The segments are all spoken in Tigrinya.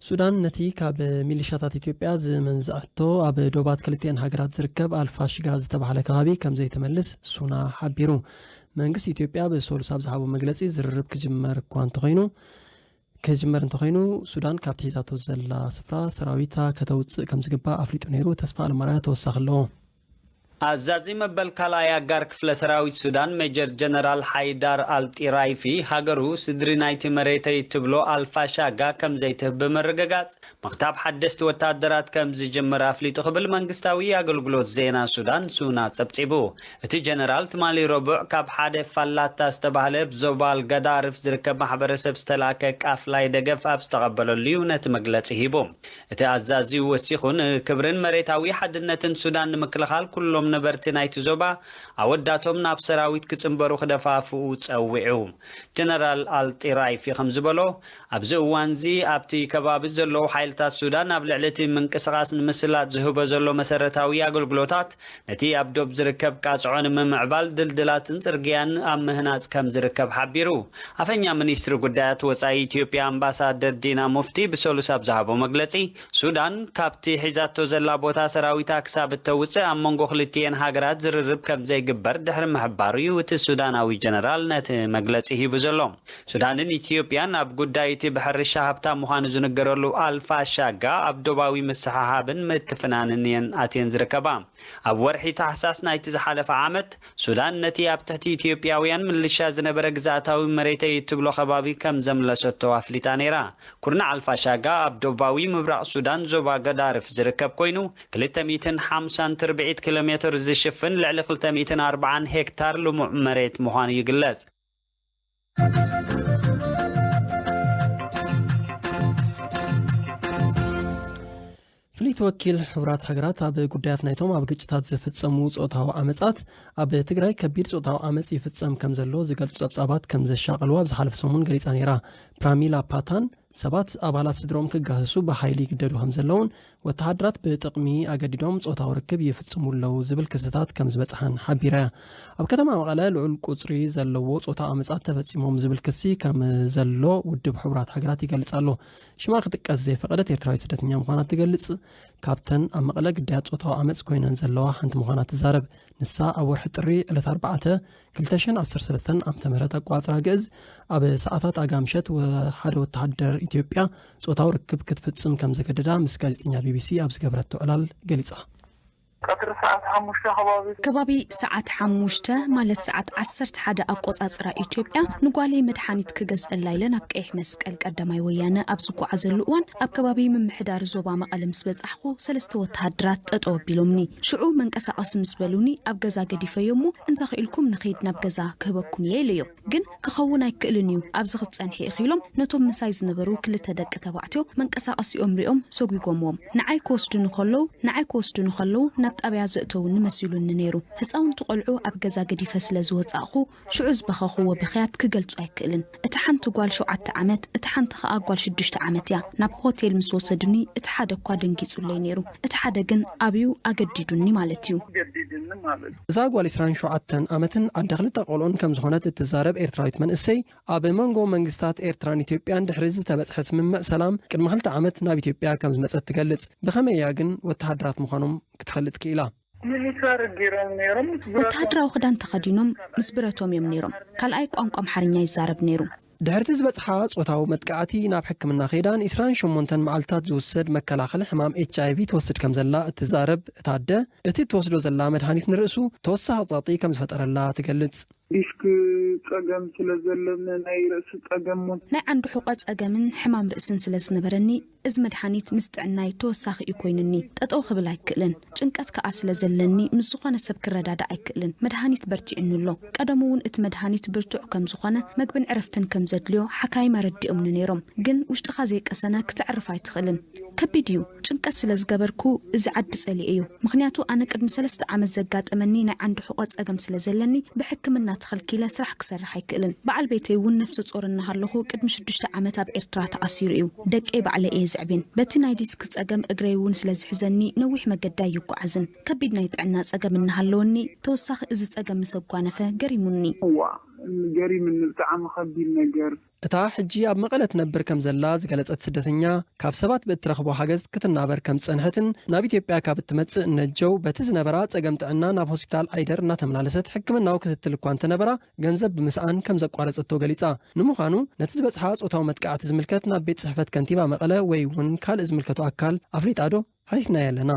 ሱዳን ነቲ ካብ ሚሊሻታት ኢትዮጵያ ዝመንዝዐቶ ኣብ ዶባት ክልቲኤን ሃገራት ዝርከብ ኣልፋሽጋ ዝተባሃለ ከባቢ ከም ዘይትመልስ ሱና ሓቢሩ መንግስቲ ኢትዮጵያ ብሰሉስ ኣብ ዝሃቦ መግለፂ ዝርርብ ክጅመር እኳ እንተኮይኑ ክጅመር እንተኾይኑ ሱዳን ካብቲ ሒዛቶ ዘላ ስፍራ ሰራዊታ ከተውጽእ ከምዝግባእ ኣፍሊጡ ነይሩ፣ ተስፋ ኣለማርያ ተወሳኺ ኣለዎ። ኣዛዚ መበል ካልኣይ ኣጋር ክፍለ ሰራዊት ሱዳን ሜጀር ጀነራል ሓይዳር ኣል ጢራይፊ፣ ሃገሩ ስድሪ ናይቲ መሬተይ እትብሎ ኣል ፋሻጋ ከምዘይትህብ ብምርግጋጽ፣ ምኽታብ ሓደስቲ ወተሃደራት ከም ዝጅምር ኣፍሊጡ ክብል መንግስታዊ ኣገልግሎት ዜና ሱዳን ሱና ጸብጺቡ። እቲ ጀነራል ትማሊ ረቡዕ ካብ ሓደ ፋላታ ዝተባህለ ኣብ ዞባ ኣልጋዳርፍ ዝርከብ ማሕበረሰብ ዝተላእከ ቃፍላይ ደገፍ ኣብ ዝተቐበለሉ'ዩ ነቲ መግለጺ ሂቡ። እቲ ኣዛዚ ወሲኹ ን ክብርን መሬታዊ ሓድነትን ሱዳን ንምክልኻል ኩሎም ነበርቲ ናይቲ ዞባ ኣወዳቶም ናብ ሰራዊት ክጽንበሩ ክደፋፍኡ ጸዊዑ። ጀነራል ኣል ጢራይፊ ከም ዝበሎ፣ ኣብዚ እዋንዚ ኣብቲ ከባቢ ዘለዉ ሓይልታት ሱዳን ኣብ ልዕሊ እቲ ምንቅስቓስ ንምስላጥ ዝህቦ ዘሎ መሰረታዊ ኣገልግሎታት ነቲ ኣብ ዶብ ዝርከብ ቃጽዖ ንምምዕባል ድልድላትን ጽርግያን ኣብ ምህናጽ ከምዝርከብ ሓቢሩ። ኣፈኛ ሚኒስትሪ ጉዳያት ወጻኢ ኢትዮጵያ ኣምባሳደር ዲና ሙፍቲ ብሰሉስ ኣብ ዝሃቦ መግለጺ፣ ሱዳን ካብቲ ሒዛቶ ዘላ ቦታ ሰራዊታ ክሳብ እተውጽእ ኣብ መንጎ ክልቲኤን ሃገራት ዝርርብ ከምዘይግበር ድሕሪ ምሕባሩ'ዩ እቲ ሱዳናዊ ጀነራል ነቲ መግለጺ ሂቡ ዘሎ። ሱዳንን ኢትዮጵያን ኣብ ጉዳይ እቲ ብሕርሻ ሃብታም ምዃኑ ዝንገረሉ ኣልፋሻጋ ኣብ ዶባዊ ምስሕሓብን ምትፍናንን እየን ኣትየን ዝርከባ። ኣብ ወርሒ ታሕሳስ ናይቲ ዝሓለፈ ዓመት፣ ሱዳን ነቲ ኣብ ትሕቲ ኢትዮጵያውያን ምልሻ ዝነበረ ግዝኣታዊ መሬተይ እትብሎ ከባቢ ከም ዘምለሰቶ ኣፍሊጣ ነይራ። ኩርናዕ ኣልፋሻጋ ኣብ ዶባዊ ምብራቕ ሱዳን ዞባ ገዳርፍ ዝርከብ ኰይኑ፣ ክልተ ሚእትን ሓምሳን ትርብዒት ኪሎሜትር ዝሽፍን ልዕሊ ክልተ ሚእትን ኣርብዓን ሄክታር ልሙዕ መሬት ምዃኑ ይግለጽ። ፍልይቲ ወኪል ሕብራት ሃገራት ኣብ ጉዳያት ናይቶም ኣብ ግጭታት ዝፍፀሙ ፆታዊ ዓመፃት ኣብ ትግራይ ከቢድ ፆታዊ ዓመፅ ይፍፀም ከም ዘሎ ዝገልፁ ፀብፃባት ከም ዘሻቐልዋ ኣብ ዝሓለፈ ሰሙን ገሊፃ ነይራ ፕራሚላ ፓታን ሰባት ኣባላት ስድርኦም ክጋህሱ ብሓይሊ ይግደዱ ከም ዘለውን ወተሃደራት ብጥቕሚ ኣገዲዶም ጾታዊ ርክብ ይፍጽሙ ኣለዉ ዝብል ክስታት ከም ዝበጽሓን ሓቢራ እያ። ኣብ ከተማ መቐለ ልዑል ቁጽሪ ዘለዎ ጾታ ኣመጻት ተፈጺሞም ዝብል ክሲ ከም ዘሎ ውድብ ሕቡራት ሃገራት ይገልጽ ኣሎ። ሽማ ክጥቀስ ዘይፈቐደት ኤርትራዊት ስደተኛ ምዃና ትገልጽ። ካብተን ኣብ መቐለ ግዳያት ጾታዊ ኣመጽ ኮይነን ዘለዋ ሓንቲ ምዃና ትዛረብ። ንሳ ኣብ ወርሒ ጥሪ ዕለት ኣርባዕተ ክልተ ሽሕን ዓሰርተ ሰለስተን ዓመተ ምህረት ኣቆፃፅራ ግእዝ ኣብ ሰዓታት ኣጋ ምሸት ወ- ሓደ ወተሃደር ኢትዮጵያ ጾታዊ ርክብ ክትፍጽም ከም ዘገደዳ ምስ ጋዜጠኛ ቢቢሲ ኣብ ዝገበረቶ ዕላል ገሊጻ። ቀትሪ ሰዓት ሓሙሽተ ከባቢ ከባቢ ሰዓት ሓሙሽተ ማለት ሰዓት ዓሰርተ ሓደ ኣቆፃፅራ ኢትዮጵያ ንጓለይ መድሓኒት ክገዝአላ ኢለ ናብ ቀይሕ መስቀል ቀዳማይ ወያነ ኣብ ዝጓዓዘሉ እዋን ኣብ ከባቢ ምምሕዳር ዞባ መቐለ ምስ በፃሕኩ ኣለኹ ሰለስተ ወተሃደራት ጠጠው ኣቢሎምኒ ሽዑ መንቀሳቐሲ ምስ በሉኒ ኣብ ገዛ ገዲፈዮ እሞ እንተኽኢልኩም ንኺድ ናብ ገዛ ክህበኩም እየ ኢለዮም ግን ክኸውን ኣይክእልን እዩ ኣብዚ ክትጸንሒ ኢኺ ኢሎም ነቶም ምሳይ ዝነበሩ ክልተ ደቂ ተባዕትዮ መንቀሳቐሲኦም ሪኦም ሰጒጎምዎም ንዓይ ክወስዱኒ ከለዉ ንዓይ ክወስዱኒ ከለዉ ናብ ጣብያ ዘእተውኒ መሲሉኒ ነይሩ ህፃውንቲ ቆልዑ ኣብ ገዛ ገዲፈ ስለ ዝወፃእኹ ሽዑ ዝበኸኹዎ ብኽያት ክገልጾ ኣይክእልን። እታ ሓንቲ ጓል ሸውዓተ ዓመት፣ እታ ሓንቲ ኸኣ ጓል ሽዱሽተ ዓመት እያ። ናብ ሆቴል ምስ ወሰዱኒ፣ እቲ ሓደ እኳ ደንጊጹለይ ነይሩ፣ እቲ ሓደ ግን ኣብዩ ኣገዲዱኒ ማለት እዩ። እዛ ጓል ዕስራን ሸውዓተን ዓመትን ኣደ ክልተ ቆልዑን ከም ዝኾነት እትዛረብ ኤርትራዊት መንእሰይ፣ ኣብ መንጎ መንግስታት ኤርትራን ኢትዮጵያን ድሕሪ ዝተበጽሐ ስምምዕ ሰላም ቅድሚ ክልተ ዓመት ናብ ኢትዮጵያ ከም ዝመጸት ትገልጽ። ብኸመይ እያ ግን ወተሃደራት ምዃኖም ክትፈልጥ ክኢላ? ሚሊታሪ ጌሮም ኔሮም ምስ ብረቶም። ወተሃደራዊ ክዳን ተኸዲኖም ምስ ብረቶም እዮም ኔሮም። ካልኣይ ቋንቋ ኣምሓርኛ ይዛረብ ኔሩ። ድሕሪ'ቲ ዝበጽሓ ጾታዊ መጥቃዕቲ ናብ ሕክምና ከይዳ ን ዕስራን ሸሞንተን መዓልትታት ዝውሰድ መከላኸሊ ሕማም ኤችኣይቪ ትወስድ ከምዘላ እትዛረብ እታ ኣደ፣ እቲ እትወስዶ ዘላ መድሃኒት ንርእሱ ተወሳኺ ጸቕጢ ከምዝፈጠረላ ትገልጽ። ዲስክ ጸገም ስለዘለኒ ናይ ርእሲ ጸገም ውን። ናይ ዓንዲ ሑቐ ጸገምን ሕማም ርእስን ስለዝነበረኒ እዚ መድሓኒት ምስ ጥዕናይ ተወሳኺ እዩ ኮይኑኒ። ጠጠው ክብል ኣይክእልን። ጭንቀት ከኣ ስለ ዘለኒ ምስ ዝኾነ ሰብ ክረዳዳእ ኣይክእልን። መድሃኒት በርቲዑኒ ኣሎ። ቀደሙ እውን እቲ መድሃኒት ብርቱዕ ከም ዝኾነ መግብን ዕረፍትን ከም ዘድልዮ ሓካይም ኣረዲኦምኒ ነይሮም። ግን ውሽጥኻ ዘይቀሰነ ክተዕርፍ ኣይትኽእልን። ከቢድ እዩ። ጭንቀት ስለ ዝገበርኩ እዚ ዓዲ ጸሊኤዮ። ምኽንያቱ ኣነ ቅድሚ ሰለስተ ዓመት ዘጋጠመኒ ናይ ዓንዲ ሑቐ ጸገም ስለ ዘለኒ ብሕክምና ተኸልኪለ ስራሕ ክሰርሕ ኣይክእልን በዓል ቤተይ እውን ነፍሰ ጾር እናሃለኹ ቅድሚ ሽዱሽተ ዓመት ኣብ ኤርትራ ተኣሲሩ እዩ ደቀይ ባዕለይ እየ ዘዕብየን በቲ ናይ ዲስክ ጸገም እግረይ እውን ስለ ዝሕዘኒ ነዊሕ መገዲ ኣይጓዓዝን ከቢድ ናይ ጥዕና ጸገም እናሃለወኒ ተወሳኺ እዚ ጸገም ምስ ኣጓነፈ ገሪሙኒ እዋእ ገሪምኒ ብጣዕሚ ከቢድ ነገር። እታ ሕጂ ኣብ መቐለ ትነብር ከምዘላ ዝገለጸት ስደተኛ፣ ካብ ሰባት ብእትረኽቦ ሓገዝ ክትናበር ከም ዝጸንሐትን ናብ ኢትዮጵያ ካብ እትመጽእ ነጀው በቲ ዝነበራ ጸገም ጥዕና ናብ ሆስፒታል ዓይደር እናተመላለሰት ሕክምናዊ ክትትል እኳ እንተነበራ ገንዘብ ብምስኣን ከም ዘቋረጸቶ ገሊጻ። ንምዃኑ ነቲ ዝበጽሓ ጾታዊ መጥቃዕቲ ዝምልከት ናብ ቤት ጽሕፈት ከንቲባ መቐለ ወይ'ውን ካልእ ዝምልከቶ ኣካል ኣፍሊጣ'ዶ? ሃይትና ያለና።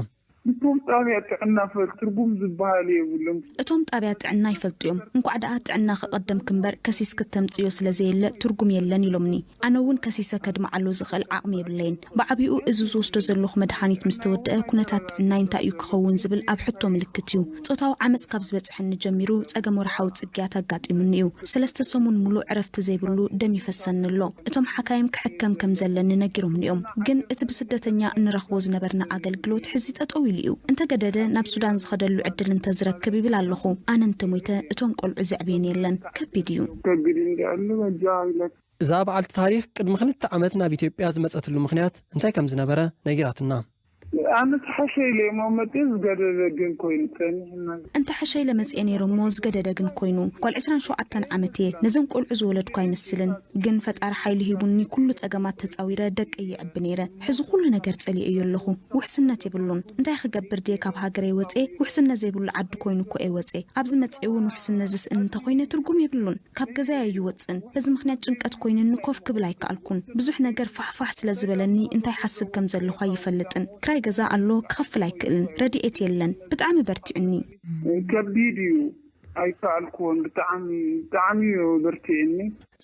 እቶም ጣብያ ጥዕና ፈል ትርጉም ዝብሃል የብሉን። እቶም ጣብያ ጥዕና ይፈልጡ እዮም እንኳዕ ደኣ ጥዕና ከቀደምኪ እምበር ከሲስ ክተምፅእዮ ስለ ዘየለ ትርጉም የለን ኢሎምኒ ኣነ እውን ከሲሰ ከድምዓሉ ዝክእል ዓቅሚ የብለይን ብዓቢኡ እዚ ዝወስዶ ዘለኩ መድሓኒት ምስተወደኣ ኩነታት ጥዕናይ እንታይ እዩ ክከውን ዝብል ኣብ ሕቶ ምልክት እዩ ጾታዊ ዓመጽ ካብ ዝበጽሐኒ ጀሚሩ ጸገም ወርሓዊ ጽግያት ኣጋጢሙኒ እዩ። ሰለስተ ሰሙን ምሉእ ዕረፍቲ ዘይብሉ ደም ይፈሰኒ ኣሎ። እቶም ሓካይም ክሕከም ከም ዘለኒ ነጊሮምኒ እዮም። ግን እቲ ብስደተኛ እንረኽቦ ዝነበርና ኣገልግሎት ሕዚ ጠጠው ኢሉ እዩ። እንተገደደ ናብ ሱዳን ዝኸደሉ ዕድል እንተዝረክብ ይብል ኣለኹ። ኣነ እንተሞይተ እቶም ቆልዑ ዘዕብየን የለን። ከቢድ እዩ። ከቢድ እንድዩ ኣሎ በጃኻ ግለጽ። እዛ በዓልቲ ታሪኽ ቅድሚ ክልተ ዓመት ናብ ኢትዮጵያ ዝመጸትሉ ምኽንያት እንታይ ከም ዝነበረ ነጊራትና። ኣነ ተሐሸ ኢለ እሞ መጽየ ዝገደደ ግን ኮይኑ ጸኒሕና። እንተሐሸ ኢለ መጽየ ነይሩ እሞ ዝገደደ ግን ኮይኑ። ጓል ዕስራን ሸውዓተን ዓመት እየ ነዞም ቆልዑ ዝወለድኩ ኣይመስልን ግን ፈጣሪ ሓይሊ ሂቡኒ ኩሉ ጸገማት ተጻዊረ ደቀይ የዕቢ ነይረ ሕዚ ኩሉ ነገር ጸሊኤዮ ኣለኹ ውሕስነት የብሉን እንታይ ክገብር ድየ ካብ ሃገረይ ወጽየ ውሕስነት ዘይብሉ ዓዲ ኮይኑ እኮ እየ ወጽየ ኣብዚ መጽየ ውን ውሕስነት ዝስእን እንተኾይነ ትርጉም የብሉን ካብ ገዛይ ኣይወጽእን። በዚ ምኽንያት ጭንቀት ኮይኑኒ ኮፍ ክብል ኣይከኣልኩን። ብዙሕ ነገር ፋሕ ፋሕ ስለ ዝበለኒ እንታይ ይሓስብ ከም ዘለኹ ኣይፈልጥን። ክራይ ገዛ ኣሎ ክኸፍል ኣይክእልን። ረድኤት የለን። ብጣዕሚ በርቲዑኒ። ከቢድ እዩ ኣይከኣልክዎን ብጣዕሚ ብጣዕሚ እዩ ኣበርቲዕኒ።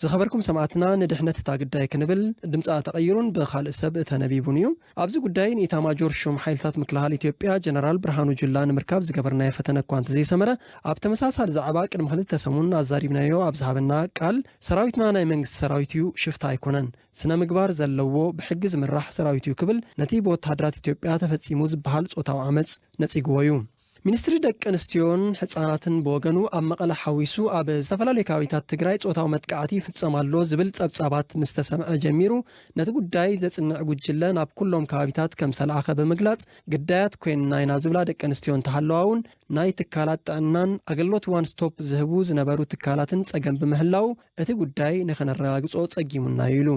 ዝኸበርኩም ሰማእትና ንድሕነት እታ ግዳይ ክንብል ድምጻ ተቐይሩን ብኻልእ ሰብ ተነቢቡን እዩ። ኣብዚ ጉዳይ ንኢታማጆር ሹም ሓይልታት ምክልኻል ኢትዮጵያ ጀነራል ብርሃኑ ጁላ ንምርካብ ዝገበርናዮ ፈተነ እኳ እንተዘይሰመረ ኣብ ተመሳሳሊ ዛዕባ ቅድሚ ክልተ ሰሙን ኣዛሪብናዮ ኣብ ዝሃበና ቃል ሰራዊትና ናይ መንግስቲ ሰራዊት እዩ ሽፍታ ኣይኮነን ስነ ምግባር ዘለዎ ብሕጊ ዝምራሕ ሰራዊት እዩ ክብል ነቲ ብወተሃደራት ኢትዮጵያ ተፈፂሙ ዝበሃል ፆታዊ ዓመፅ ነፂግዎ እዩ። ሚኒስትሪ ደቂ ኣንስትዮን ሕፃናትን ብወገኑ ኣብ መቐለ ሓዊሱ ኣብ ዝተፈላለዩ ከባቢታት ትግራይ ፆታዊ መጥቃዕቲ ይፍፀም ኣሎ ዝብል ፀብፃባት ምስ ተሰምዐ ጀሚሩ ነቲ ጉዳይ ዘፅንዕ ጉጅለ ናብ ኩሎም ከባቢታት ከም ዝተልኣኸ ብምግላፅ ግዳያት ኮይንና ኢና ዝብላ ደቂ ኣንስትዮ እንተሃለዋ እውን ናይ ትካላት ጥዕናን ኣገልግሎት ዋን ስቶፕ ዝህቡ ዝነበሩ ትካላትን ፀገም ብምህላዉ እቲ ጉዳይ ንኸነረጋግጾ ጸጊሙና'ዩ ኢሉ።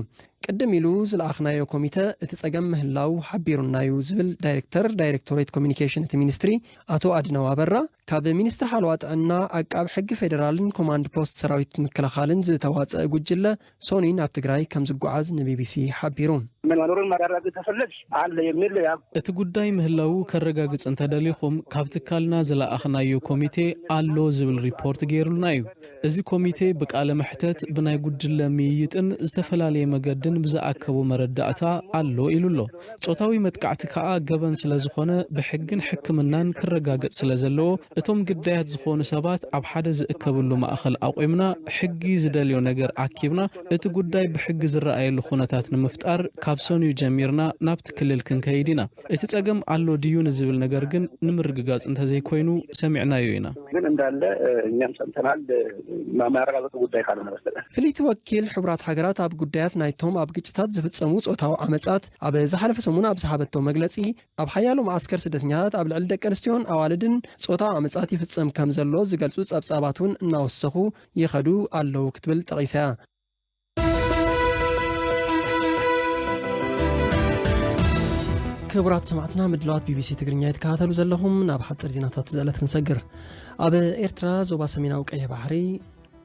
ቅድም ኢሉ ዝለኣኽናዮ ኮሚተ እቲ ጸገም ምህላው ሓቢሩና'ዩ ዝብል ዳይሬክተር ዳይሬክቶሬት ኮሚኒኬሽን እቲ ሚኒስትሪ ኣቶ ኣድነው ኣበራ፣ ካብ ሚኒስትሪ ሓለዋ ጥዕና፣ ዓቃቢ ሕጊ ፌደራልን ኮማንድ ፖስት ሰራዊት ምክልኻልን ዝተዋጸእ ጉጅለ ሶኑይ ናብ ትግራይ ከምዝጓዓዝ ንቢቢሲ ሓቢሩ። መኖሩን ማረጋገጫ ሰነድ ኣለ የሚል ያው። እቲ ጉዳይ ምህላዉ ከረጋግጽ እንተደሊኹም ካብ ትካልና ዝለኣኽናዮ ኮሚቴ ኣሎ ዝብል ሪፖርት ገይሩልና እዩ። እዚ ኮሚቴ ብቃለ መሕተት፣ ብናይ ጉጅለ ምይይጥን ዝተፈላለየ መገድን ብዝኣከቦ መረዳእታ ኣሎ ኢሉ ኣሎ። ጾታዊ መጥቃዕቲ ከኣ ገበን ስለዝኾነ ብሕግን ሕክምናን ክረጋገጽ ስለዘለዎ እቶም ግዳያት ዝኾኑ ሰባት ኣብ ሓደ ዝእከብሉ ማእኸል ኣቑምና ሕጊ ዝደልዮ ነገር ኣኪብና እቲ ጉዳይ ብሕጊ ዝረኣየሉ ኩነታት ንምፍጣር ካብ ሰኑይ ጀሚርና ናብቲ ክልል ክንከይድ ኢና እቲ ጸገም ኣሎ ድዩ ንዝብል ነገር ግን ንምርግጋጽ እንተዘይኮይኑ ሰሚዕናዮ ኢና። ግን እንዳለ እኛም ሰምተናል ማረጋገጹ ጉዳይ ካልሆነ በስተቀር። ፍልይቲ ወኪል ሕቡራት ሃገራት ኣብ ጉዳያት ናይቶም ኣብ ግጭታት ዝፍጸሙ ጾታዊ ዓመጻት ኣብ ዝሓለፈ ሰሙን ኣብ ዝሃበቶ መግለጺ፣ ኣብ ሓያሎ መዓስከር ስደተኛታት ኣብ ልዕሊ ደቀንስትዮን ኣዋልድን ጾታዊ ዓመጻት ይፍጸም ከምዘሎ ዝገልጹ ጸብጻባት እውን እናወሰኹ ይኸዱ ኣለዉ ክትብል ጠቒሳ'ያ። ክቡራት ሰማዕትና ምድለዋት ቢቢሲ ትግርኛ ይትከታተሉ ዘለኹም ናብ ሓፅር ዜናታት ዘዕለት ክንሰግር ኣብ ኤርትራ ዞባ ሰሜናዊ ቀይሕ ባሕሪ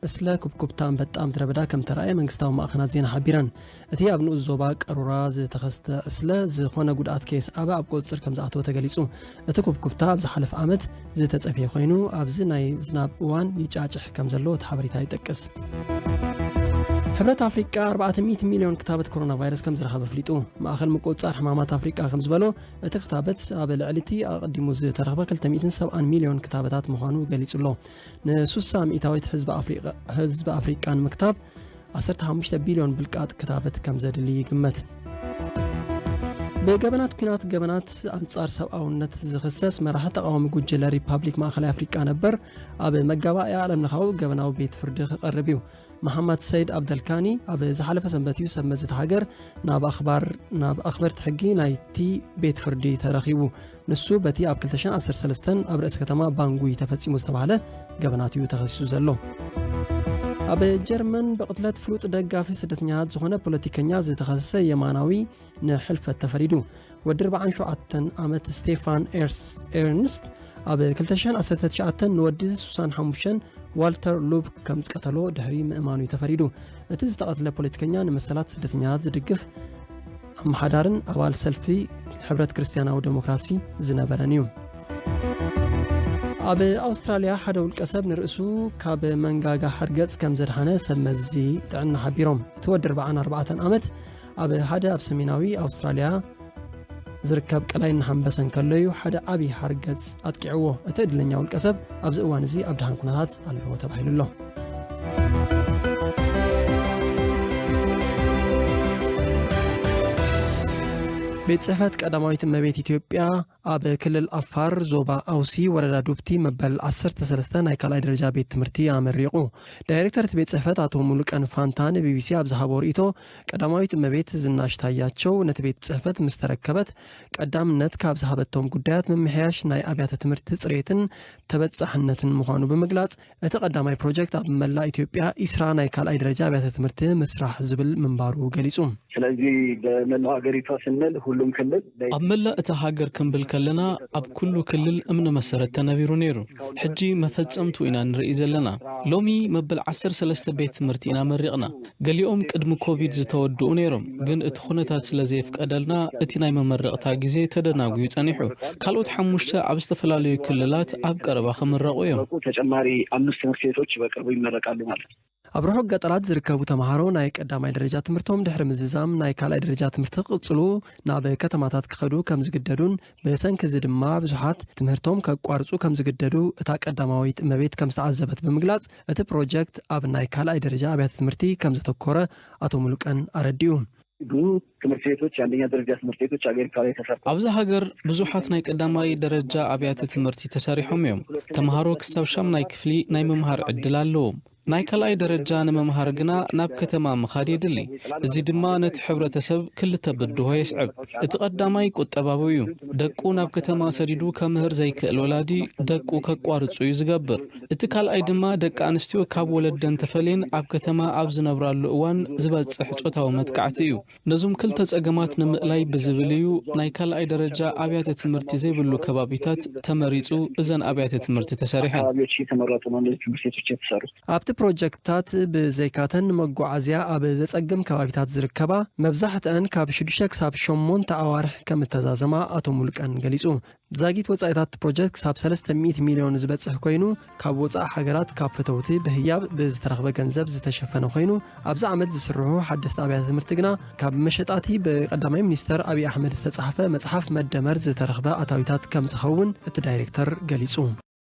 እስለ ኩብኩብታ ኣንበጣ ምድረ በዳ ከም ተረኣየ መንግስታዊ ማእኸናት ዜና ሓቢረን እቲ ኣብ ንኡስ ዞባ ቀሩራ ዝተኸስተ እስለ ዝኾነ ጉድኣት ከየስዓበ ኣብ ቁፅፅር ከም ዝኣተወ ተገሊፁ እቲ ኩብኩብታ ኣብ ዝሓለፈ ዓመት ዝተጸብሔ ኮይኑ ኣብዚ ናይ ዝናብ እዋን ይጫጭሕ ከም ዘሎ እቲ ሓበሬታ ይጠቅስ ሕብረት ኣፍሪቃ 400 ሚልዮን ክታበት ኮሮና ቫይረስ ከም ዝረኸበ ኣፍሊጡ ማእኸል ምቁፅፃር ሕማማት ኣፍሪቃ ከም ዝበሎ እቲ ክታበት ኣብ ልዕሊ እቲ ኣቐዲሙ ዝተረኽበ 270 ሚልዮን ክታበታት ምዃኑ ገሊጹ ኣሎ ን60 ሚእታዊት ህዝቢ ኣፍሪቃ ንምክታብ ዓሰርተ ሓሙሽተ ቢልዮን ብልቃጥ ክታበት ከም ዘድሊ ይግመት። ብገበናት ኩናት ገበናት ኣንጻር ሰብኣውነት ዝኽሰስ መራሒ ተቓዋሚ ጉጅለ ሪፓብሊክ ማእኸላይ ኣፍሪቃ ነበር ኣብ መጋባእያ ዓለምለኻዊ ገበናዊ ቤት ፍርዲ ክቐርብ እዩ። መሓመድ ሰይድ ኣብደልካኒ ኣብ ዝሓለፈ ሰንበት እዩ ሰብ መዚ እቲ ሃገር ናብ ኣኽበርቲ ሕጊ ናይቲ ቤት ፍርዲ ተረኺቡ። ንሱ በቲ ኣብ 2013 ኣብ ርእሲ ከተማ ባንጉይ ተፈጺሙ ዝተባህለ ገበናት እዩ ተኸሲሱ ዘሎ። ኣብ ጀርመን ብቕትለት ፍሉጥ ደጋፊ ስደተኛታት ዝኾነ ፖለቲከኛ ዝተኸሰሰ የማናዊ ንሕልፈት ተፈሪዱ ወዲ 47 ዓመት ስቴፋን ኤርንስት ኣብ 2019 ንወዲ 65 ዋልተር ሉብ ከም ዝቀተሎ ድሕሪ ምእማኑ ተፈሪዱ እቲ ዝተቐትለ ፖለቲከኛ ንመሰላት ስደተኛታት ዝድግፍ ኣመሓዳርን ኣባል ሰልፊ ሕብረት ክርስትያናዊ ደሞክራሲ ዝነበረን እዩ። ኣብ ኣውስትራልያ ሓደ ውልቀ ሰብ ንርእሱ ካብ መንጋጋ ሓርገጽ ከም ዘድሓነ ሰብ መዚ ጥዕና ሓቢሮም እቲ ወዲ 44 ዓመት ኣብ ሓደ ኣብ ሰሜናዊ ኣውስትራልያ ዝርከብ ቀላይ እናሃንበሰ እንከሎ እዩ ሓደ ዓብዪ ሓርገጽ ኣጥቂዕዎ እቲ ዕድለኛ ውልቀ ሰብ ኣብዚ እዋን እዚ ኣብ ድሃን ኩነታት ኣለዎ ተባሂሉ ኣሎ ቤት ጽሕፈት ቀዳማዊት እመቤት ኢትዮጵያ ኣብ ክልል ኣፋር ዞባ ኣውሲ ወረዳ ዱብቲ መበል 13 ናይ ካልኣይ ደረጃ ቤት ትምህርቲ ኣመሪቑ ዳይሬክተር እቲ ቤት ጽሕፈት ኣቶ ሙሉቀን ፋንታ ንቢቢሲ ኣብ ዝሃቦ ርእቶ ቀዳማዊት እመቤት ዝናሽ ታያቸው ነቲ ቤት ጽሕፈት ምስ ተረከበት ቀዳምነት ካብ ዝሃበቶም ጉዳያት ምምሕያሽ ናይ ኣብያተ ትምህርቲ ጽሬትን ተበጻሕነትን ምዃኑ ብምግላጽ እቲ ቀዳማይ ፕሮጀክት ኣብ መላእ ኢትዮጵያ ኢስራ ናይ ካልኣይ ደረጃ ኣብያተ ትምህርቲ ምስራሕ ዝብል ምንባሩ ገሊፁ። ስለዚ በመላው ሀገሪቷ ስንል ሁሉም ክልል። ኣብ መላእ እታ ሃገር ክንብል ከለና ኣብ ኩሉ ክልል እምነ መሰረት ተነቢሩ ነይሩ። ሕጂ መፈፀምትኡ ኢና ንርእይ ዘለና። ሎሚ መበል ዓሰርተ ሰለስተ ቤት ትምህርቲ ኢና መሪቕና። ገሊኦም ቅድሚ ኮቪድ ዝተወድኡ ነይሮም፣ ግን እቲ ኩነታት ስለ ዘየፍቀደልና እቲ ናይ መመረቕታ ግዜ ተደናጉዩ ጸኒሑ። ካልኦት ሓሙሽተ ኣብ ዝተፈላለዩ ክልላት ኣብ ቀረባ ክምረቑ እዮም። ተጨማሪ ኣምስት ትምህርት ቤቶች በቅርቡ ይመረቃሉ ማለት። ኣብ ርሑቕ ገጠራት ዝርከቡ ተመሃሮ ናይ ቀዳማይ ደረጃ ትምህርቶም ድሕሪ ምዝዛም ናይ ካልኣይ ደረጃ ትምህርቲ ክቕጽሉ ናብ ከተማታት ክኸዱ ከምዝግደዱን ብሰንኪ እዚ ድማ ብዙሓት ትምህርቶም ከቋርጹ ከም ዝግደዱ እታ ቀዳማዊት እመቤት ከም ዝተዓዘበት ብምግላጽ፣ እቲ ፕሮጀክት ኣብ ናይ ካልኣይ ደረጃ ኣብያተ ትምህርቲ ከም ዘተኮረ ኣቶ ሙሉቀን ኣረዲኡ። ብዙ ትምህርት ቤቶች፣ የአንደኛ ደረጃ ትምህርት ቤቶች አሜሪካ ላይ ተሰርተዋል። ኣብዚ ሃገር ብዙሓት ናይ ቀዳማይ ደረጃ ኣብያተ ትምህርቲ ተሰሪሖም እዮም። ተምሃሮ ክሳብ ሻምናይ ክፍሊ ናይ ምምሃር ዕድል ኣለዎም። ናይ ካልኣይ ደረጃ ንምምሃር ግና ናብ ከተማ ምኻድ የድሊ። እዚ ድማ ነቲ ሕብረተሰብ ክልተ ብድሆ የስዕብ። እቲ ቀዳማይ ቁጠባዊ እዩ። ደቁ ናብ ከተማ ሰዲዱ ከምህር ዘይክእል ወላዲ ደቁ ከቋርጹ እዩ ዝገብር። እቲ ካልኣይ ድማ ደቂ ኣንስትዮ ካብ ወለደን ተፈልየን ኣብ ከተማ ኣብ ዝነብራሉ እዋን ዝበጽሕ ጾታዊ መጥቃዕቲ እዩ። ነዞም ክልተ ፀገማት ንምእላይ ብዝብል እዩ ናይ ካልኣይ ደረጃ ኣብያተ ትምህርቲ ዘይብሉ ከባቢታት ተመሪፁ እዘን ኣብያተ ትምህርቲ ተሰሪሐን። ኣብቲ ፕሮጀክትታት ብዘይካተን ንመጓዓዝያ ኣብ ዘፀግም ከባቢታት ዝርከባ መብዛሕተኣን ካብ ሽዱሽተ ክሳብ ሸሞንተ ኣዋርሕ ከምእተዛዘማ ኣቶ ሙሉቀን ገሊፁ። ዛጊት ወጻኢታት እቲ ፕሮጀክት ክሳብ ሰለስተ ሚእቲ ሚልዮን ዝበጽሕ ኮይኑ ካብ ወጻኢ ሃገራት ካብ ፈተውቲ ብህያብ ብዝተረኽበ ገንዘብ ዝተሸፈነ ኮይኑ ኣብዚ ዓመት ዝስርሑ ሓደስቲ ኣብያተ ትምህርቲ ግና ካብ መሸጣቲ ብቀዳማይ ሚኒስተር ኣብዪ ኣሕመድ ዝተጻሕፈ መጽሓፍ መደመር ዝተረኽበ ኣታዊታት ከምዝኸውን እቲ ዳይሬክተር ገሊጹ።